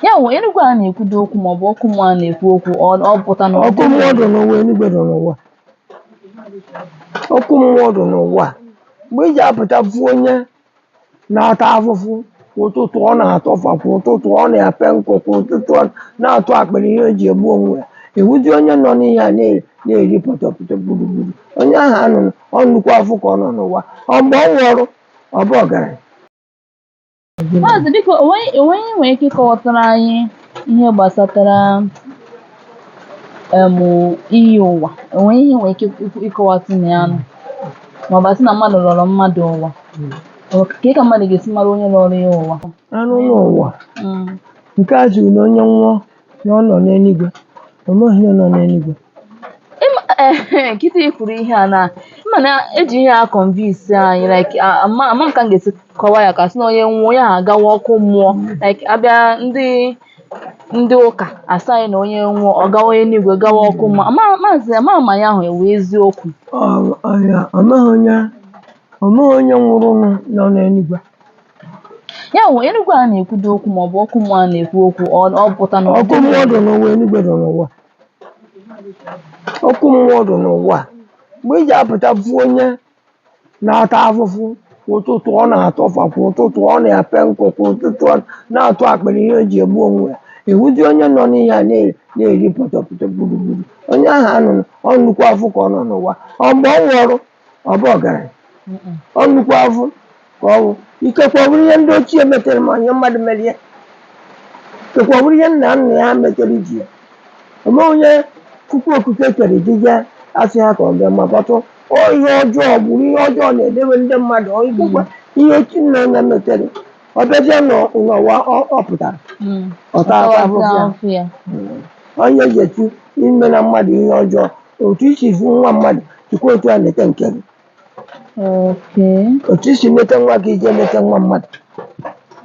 ya wụ enigwe a na-ekwudo okwu maọbụ ọkụ mmụọ a na-ekwu okwu ọ ọ pụta na ọkụ mmụọ dị n'ụwa enigwe dị n'ụwa ọkụ mmụọ dị n'ụwa mgbe ị ji apụta fụ onye na-ata afụfụ kwa ụtụtụ ọ na-atọfa kwa ụtụtụ ọ na-epe nkụ kwa ụtụtụ ọ na-atụ akpịrị ihe o ji egbu onwe ya ị hụzi onye nọ n'ihe a na- na-eri pọtọpọtọ gburugburu onye ahụ anụ ọ nnukwu afụ ka ọ nọ n'ụwa ọ mgbe ọ nwụrụ ọ bụ ọgaranya Maazị biko onweghị onweghị nwere ike ịkọwatara anyị ihe gbasatara em iyi ụwa onweghị ihe ị nwere ike ikwu- ịkọwatụ na ya nụ maọbụ asị na mmadụ lọrọ mmadụ ụwa Ọ ka ị ka mmadụ ga-esi mara onye lọrọ ya ụwa anụ n'ụwa Mm. nke a jiri na onye nwụọ na ọ nọ n'eluigwe o nweghị onye nọ n'eluigwe Ịma- eh, kịta ị kwuru ihe a na ịma na eji ihe a convince anyị like a- ama ama m ka m ga-esi kọwa ya ka sị na onye nwụọ onye ahụ agawa ọkụ mmụọ like abịa ndị ndị ụka asị anyị na onye nwụọ ọ gawa eluigwe gawa ọkụ mmụọ ama maazị ama ama ihe ahụ ọ wụ eziokwu Ọ- ọ- ya, ọ nweghị onye ọ nweghị onye nwụrụ nọ n'eluigwe ya wụ enigwe a na-ekwudo okwu ma ọ bụ ọkụ mmụọ a na-ekwu okwu ọ ọ pụta na ọkụ mmụọ dị n'ụwa enigwe dị n'ụwa ọkụ mmụọ dị n'ụwa mgbe ị ji apụta fụ onye na-ata afụfụ kwa ụtụtụ ọ na-atọfa kwa ụtụtụ ọ na-epe nkụ kwa ụtụtụ ọ na-atụ akpịrị ihe o ji egbu onwe ya ị hụzi onye nọ n'ihe a na- na-eri pọtọpọtọ gburugburu onye ahụ anụ ọ nnukwu afụ ka ọ nọ n'ụwa ọ mgbe ọ nwụrụ ọ bụ ọgaranya ọ nnukwu afụ ka ọ bụ ikekwe ọ bụrụ ihe ndị ochie metere ma onye mmadụ mere ya ikekwe ọ bụrụ ihe nna nna ya metere iji ya ome onye chukwu okike kere dịga asị ha ka ọ bịa ma kpọtụ ọ ihe ọjọọ gburu ihe ọjọọ na-edebe ndị mmadụ ọ ikekwe ihe ochie nna nna metere ọ bịazie n'ọ- n'ụwa ọ- ọ pụtara ọ taa afụfụ ya onye ga-eti ime nwa mmadụ ihe ọjọọ otu i si fụ nwa mmadụ sikwa otu a nete nke gị Okay. otu i si nete nwa gị i je nete nwa mmadụ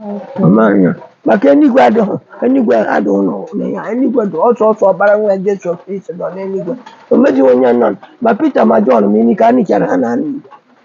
Okay. ọmanya maka enigwe adịghị enigwe adịghị ụlọ ụlọ ya enigwe dị ọ sọọsọ ọkpara nwa jesu kristi nọ n'enigwe o nwezighị onye nọ ma pita ma jọn ma ini ka e nichara ha n'anị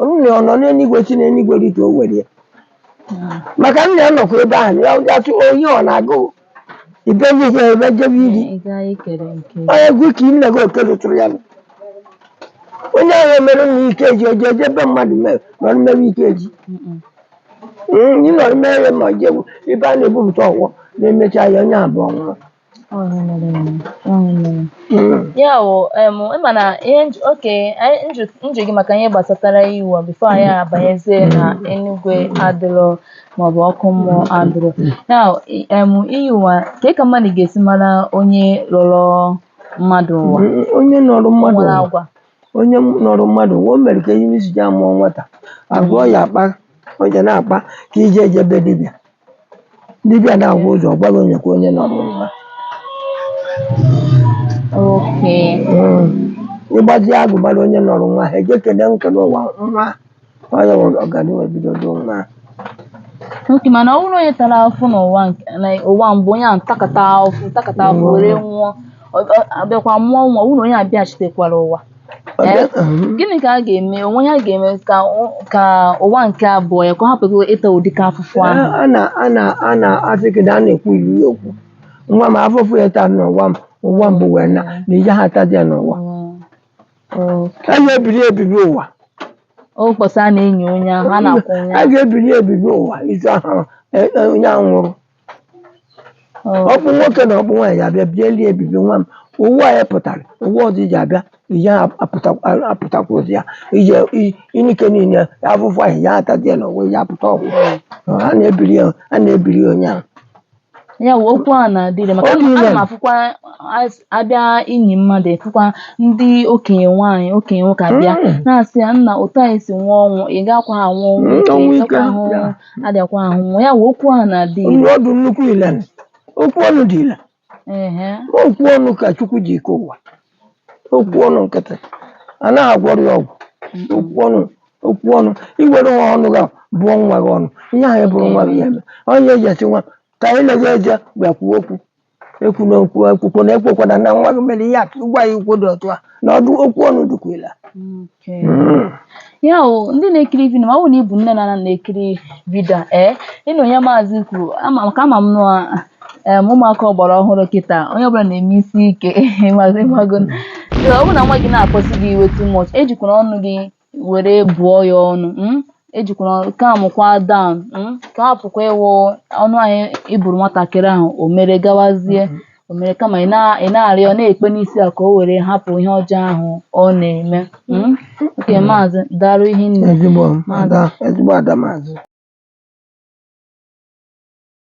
Onye nna ya ọ nọ n'eluigwe si n'eluigwe rite o were ya maka nna ya nọkwa ebe ahụ ya ya sị onye ọ na-agụ ibeli ihe ebe jebe iri Ị gaa ikere nke onye egwu ka nne gị oke rụtụrụ ya nụ. onye ahụ emere nna ike ji oje eje ebe mmadụ mere nọrọ mmerụ ike ji Mm-mm. Mm, ị nọrọ mere ma jewu ebe a na-ebupụta ọgwụ na-emecha ya onye abụọ nwụrụ ya wụ mana ka m jụọ gị maka ihe gbasatara iyi ụwa before anyị abanyezie na enugwe adịrọ maọbụ ọkụ mmụọ adịrọ ya iyi ụwa ka ka mmadụ ga-esi mara onye lọrọ mmadụ ụwa onye nọrọ mmadụ nwere ụwa agwa onye nọrọ mmadụ ụwa o mere ka ihe isi ji a mụọ nwata agwa ọ ya-akpa onye na-akpa ka e ji eje be dibịa Dibịa na-ahụ ụzọ ọ gwa gị onye ka onye nọrọ ụwa. Okay. Mm. Ị gbazie agụ mara onye nọrọ ụwa ha eje kene nkene ụwa nwa onye nwere ọganihu ebido do nwa. Okay, mana ọ bụrụ na onye tara afụ n'ụwa nke na ụwa mbụ onye ahụ takata afụ takata afụ were nwụọ ọ- ọ- a bịakwa mụọ nwa ọ bụrụ na onye abịaghachitekwara ụwa Eh? gịnị ka a ga-eme o nwe ihe a ga-eme ka ụ- ka ụwa nke abụọ ya ka ọ hapụ ịta ụdị ka afụfụ ahụ a na a na a na asị gị na a na-ekwu iri okwu nwa m afụfụ ị taa n'ụwa m ụwa mbụ wee na na ije ha atazi ya n'ụwa a na-ebiri ebibi ụwa ụbọsị a na-enyi onye ahụ a na-akwa onye ahụ a ga-ebiri ebibi ụwa ozu ahụ e- e- onye ahụ nwụrụ ọkpụ nwoke na ọkpụ nwaanyị abịa bieli ebibi nwa m ụwa a ị pụtara ụwa ọzọ ị je-abịa ihe apụtakwazi ya ije inike niile afụfụ ahụ ya atazi ya n'ụwa ya apụta ọgwụ a na-ebiri ya a na-ebiri ya onye ahụ ya wụ okwu a na-adị ire maka Okwu ana m- ana m ile. afụkwa as- abịa inyi mmadụ efụkwa ndị okenye nwaanyị okenye nwoke abịa Mm. na-asị ya nna otu a i si nwụọ ọnwụ ị gakwaha anwụ ọnwụ Mm, ike, ọnwụ ị ike, gakwa ahụ ya. adịakwa ahụ nwa ya wụ okwu ahụ na-adị ire Nwa ọ dị nnukwu ile nụ. okwu ọnụ dị ile ehe Ma okwu ọnụ ka chukwu ji kee ụwa okwu ọnụ nkịtị a naghị agwọrọ ya ọgwụ okwu ọnụ okwu ọnụ i were nwa ọnụ gị bụọ nwa gị ọnụ ihe ahụ ị bụrụ nwa gị ya-eme ọ ya e ji asị nwa ka anyị na-eje eje bịa kwuo okwu ekwula okwu ekwukwana ekwekwana na nwa gị mere ihe a ka ị gwa ya okwu dị otu a na ọdụ okwu ọnụ dịkwa ile Okay. ya o ndị na-ekiri vidio ma ọ bụ na ị bụ nne na nna na-ekiri vidio a, ee ị nụ ihe maazị kwuru ama maka ama m na em, ụmụaka ọgbara ọhụrụ kịta onye ọbụla na-eme isi ike ịmago ịmago. So, ọ bụrụ na nwa gị na-akpasu gị iwe too much ejikwana ọnụ gị were bụọ ya ọnụ mm? ejikwara ọnụ calm kwa down mm? ka hapụkwa ịwụ ọnụ anyị ị bụrụ nwatakịrị ahụ o mere gawazie o mere kama ị na- ị na-arịọ na-ekpe n'isi ya ka o were hapụ ihe ọjọọ ahụ ọ na-eme mm? okay maazị daalụ hinne ezigbo ada ezigbo ada maazị